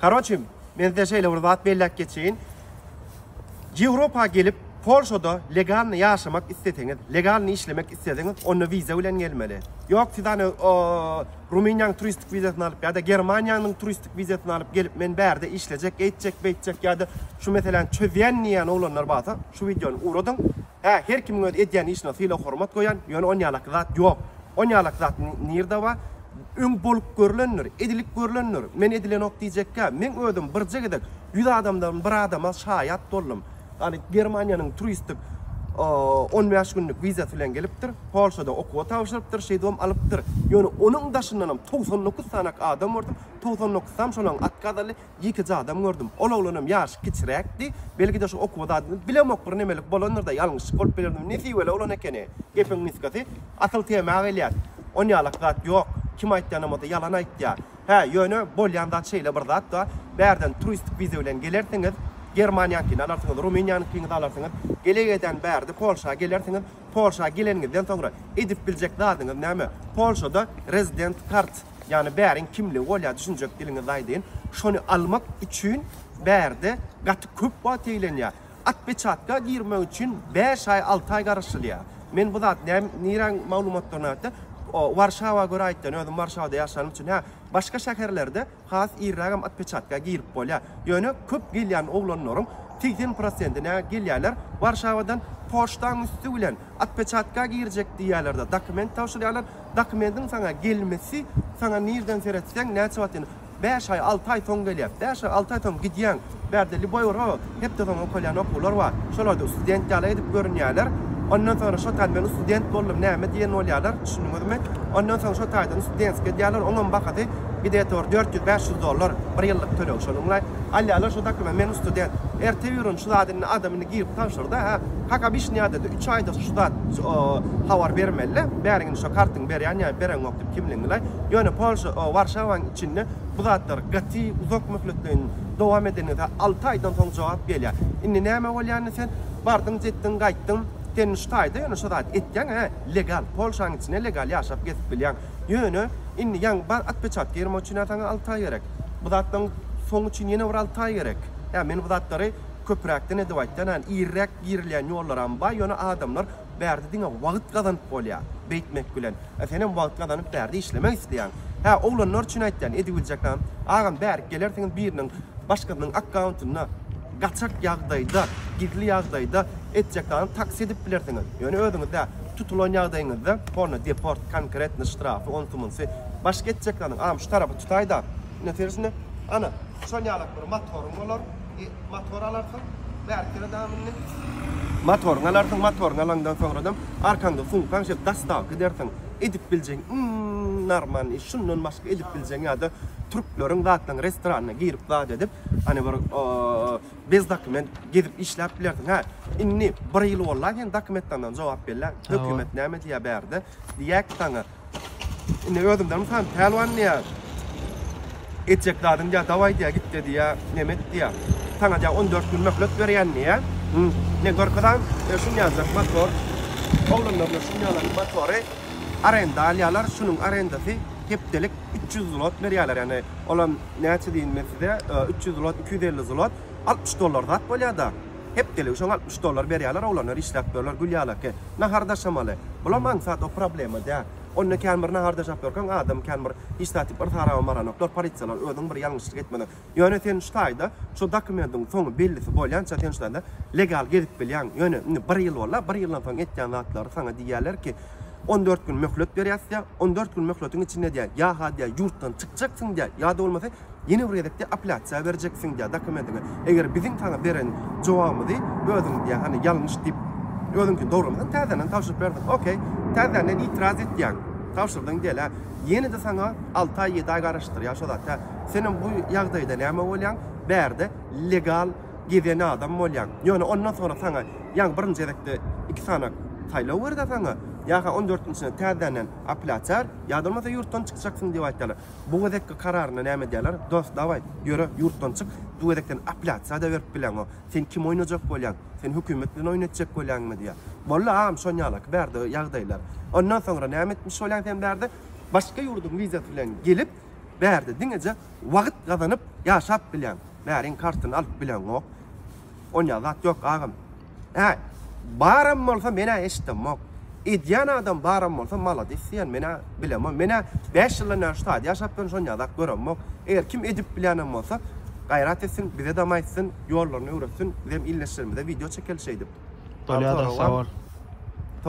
Karoçim, men size şeýle bir zat belläp geçeýin. Ýewropa gelip, Polşada legalny ýaşamak isleseňiz, legalny işlemek isleseňiz, onda wiza bilen gelmeli. Ýok, siz ony Rumyniýanyň turistik wizasyny alyp ýa-da Germaniýanyň turistik wizasyny alyp gelip, men bärde işlejek, eýtjek, beýtjek ýa-da şu meseläni çözýän diýýän oglanlar barsa, şu wideony ugradyň. Hä, her kimiň öz edýän işine sylag-hormat goýan, ýöne onýalaky zat ýok. Onýalaky zat nirde bar? Öň bolup görlendir, edilip görlendir, men edilenok diýjekkä, meň özüm birje gezek ýüz adamdan bir adama şaýat boldum. Ýagny Germaniýanyň turistik on bäş günlük wizasy bilen gelipdir, Polşada okuwa tabşyrypdyr, şeýdip hem alypdyr. Ýöne onuň daşyndanam togsan dokuz sanak adam gördüm, togsan dokuzam şolaň otkaz aldy, Ýekeje adam gördüm. Ol oglanam ýaşy kiçiräkdi. Belki-de şu okuwa zadyny bilemok bir nemelik bolandyr-da, ýalňyşlyk bolup bilerdim. Nesibeli oglan ekeni. Gepiň nusgasy asyl tema gelýär. Onýalak zat ýok. Kim aýtýanam bolsa ýalan aýtýar. Hä, ýöne bolýan zat şeýle bir zat-da, bärden turistik wiza bilen gelersiňiz, Germaniýaňkyny alarsyňyz, Rumyniýanyňkyňy-da alarsyňyz, gele-gedän bärde Polşa gelersiňiz, Polşa geleniňizden soňra edip biljek zadyňyz näme? Polşada resident kart, ýagny bäriň kimligi bolýar, düşünjek diliňizde aýdyn. Şony almak üçin bärde gaty köp wagt eglenýär. Atpeçatka girmek üçin bäş aý, alty aý garaşylýar. Men bu zat näm, niräň maglumatlaryna ýa-da Warşawa görä aýtýan, özüm Warşawada ýaşanym üçin. Hä, başga şäherlerde Has irrägem otpeçatka girip bolýar. Ýöne köp gelýän oglanlaryň segsen prosentine gelýärler Warşawadan poçtaň üsti bilen otpeçatka girjek diýýärlerde dokument tabşyrýarlar. Dokumentiň saňa gelmesi saňa nirden seretseň näçe wagt indi bäş aý alty aý soň gelýär. Bäş aý alty aý soň gidýäň. Bärde lýuboý ura hepdesoňy okalýan okuwlar bar. Şolarda student ýaly edip görünýärler. Ondan soňra şo taý men student boldum näme diýen bolýarlar, düşündiňizmi? Ondan soň şo taýdan studentskiý edýärler, oňam bahasy gde-tor dört ýüz, bäş ýüz dollar, bir ýyllyk töleg şonuňlaý. Alýarlar şo dokument men student. Erte birin şu zat indi adam indi girip tabşyrda hä, kak obyçnýadada üç aýda şu zat habar bermelide, bäriň indi şo kartyňy berýän ýa bereňokdyp kimligiňilaý. Ýöne Polşa, Warşawaň içinde bu zatlar gaty uzak möhletleýin. dowam edeniňde alty aýdan soň jogap gelýär. Indi näme bolýar indi sen bardyň jetdiň gaýtdyň sen şu taýda ýöne şu zady etýäň hä legal polşaň içinde legal ýaşap gezip bilýäň ýöne indi ýaňy bar atpeçatka girmek üçin hä saňa alty aý gerek bu zatlaň soňy üçin ýene bir alty aý gerek hä men bu zatlary köpräkden edip aýtýan hä iriräk girilýän ýollaram bar ýöne adamlar Bärde diňe wagt gazanyp bolýar. Beýtmek bilen. A senem wagt gazanyp bärde işlemek isleýäň. Hä, oglanlar üçin aýtýan, edibiljekäm. Agam bärik gelersiňiz biriniň başgasynyň akkauntynda gaçak ýagdaýda, gizli ýagdaýda etjekany taksi edip bilersiňiz. Ýöne özüňiz dä, tutulan ýagdaýyňyzda honna deport, konkretno ştrafy, onsy munsy. Başga etjek zadyň, agam şu tarapy tutaýda. Ine sersne. Ana, şonýalak bir motoryň bolar. Motor alarsyň, bärkire daýan indi. Motoryňy alarsyň, motoryňy alaňdan soňradam arkaňda sumkaň şeýle dastawka edersiň. Edip biljegiň iň narman iş, şundan başga edip biljegiň ýa-da türkleriň zatlaryň restoranyna girip zat edip, hany bir bez dokument gezip işläp bilersiň. Hä, indi bir ýyl boldy-a sen dokumentlerden jogap berläň. Hökümet näme diýýär bärde? Diýýär ki saňa, Indi özümden mysal, Pälwan diýýär, Etjek zadyň diýýär, dawaý diýýär, git-de diýýär, neme et diýýär. Saňa diýýär, on dört gün möhlet berýän diýýär. Men görkezäýin, e, şuny ýazar, motor. Oglanlaryna şuny ýazar, motory arenda alýarlar, şunuň arendasy hepdelik üç ýüz zlot berýärler. Ýagny, olam näçe diýin men size, e, üç ýüz zlot, iki ýüz elli zlot, altmyş dollar zat bolýar-da. Hepdeligi şoňa altmyş dollar berýärler, oglanlar işläp durlar gül ýalaki. Nahar daşamaly. Bulam aňsat o problema däl. Onda kän bir nahar daşap ýörkäň adam kän bir hiç zat diýip yrsa-araba baranoklar, polisiýalar özüň bir ýalňyşlyk etmeseň. Ýöne sen şu taýda şu dokumentiň soňy bellisi bolýança sen şu taýda legal gezip bilýäň. Ýöne indi bir ýyl boldy-a, bir ýyldan soň etýän zatlary saňa diýýärler ki, on dört gün möhlet berýäs diýýär, on dört gün möhletiň içinde diýýär, ýa-ha diýýär ýurtdan çykjaksyň diýýär, ýa-da bolmasa Ýene bir gezekde apelýasiýa berjeksiň diýýär dokumentiňe. Eger biziň saňa beren jogabymyzy özüň diýýär, hany ýalňyş diýip, özüňkini dogramasaň, täzeden tabşyryp berdiň. Okey, täzänden itiraz et diýýän. Tabşyrdyň diýeli-hä. Ýene-de saňa alty aý, ýedi aý garaşdyrýar şo zat-a. Senem bu ýagdaýda näme bolýaň? Bärde legal gezen adam bolýaň. Ýöne ondan soňra saňa ýaňy birinji gezekde iki sany saýlaw ber-de saňa. Ýa-ha on dörtünjisine täzänden apelýasiýa ber, ýa-da bolmasa ýurtdan çykjaksyň diýip aýtýarlar. Bu gezekki kararyna näme diýerler? Dost, dawaý, ýöre, ýurtdan çyk, bu gezek sen apelýasiýa-da berip bileňok. Sen kim oýnajak bolýaň? Sen hökümet bilen oýun etjek bolýaňmy? diýýär. Boldy, agam, şon ýalaky bärde ýagdaýlar. Ondan soňra näme etmiş bolýaň sen bärde? Başga ýurduň wizasy bilen gelip, bärde diňeje wagt gazanyp ýaşap bilýäň. Bäriň kartyny alyp bileňok. Onýa zat ýok, agam. Hä, baram bolsa men-ä eşitdemmok. Edýän adam baram bolsa maladis diýýän men-ä bilemok. Men-ä bäş ýyldan bäri şu taýda ýaşapdyryn, şony ýazap göremok. Eger kim edip bilýänem bolsa, gaýrat etsin, bize dam aýtsyn, ýollaryny öwretsin, bizem ildeşlerimize wideo çekeli şeýdip. Bolýa-da, sag bol.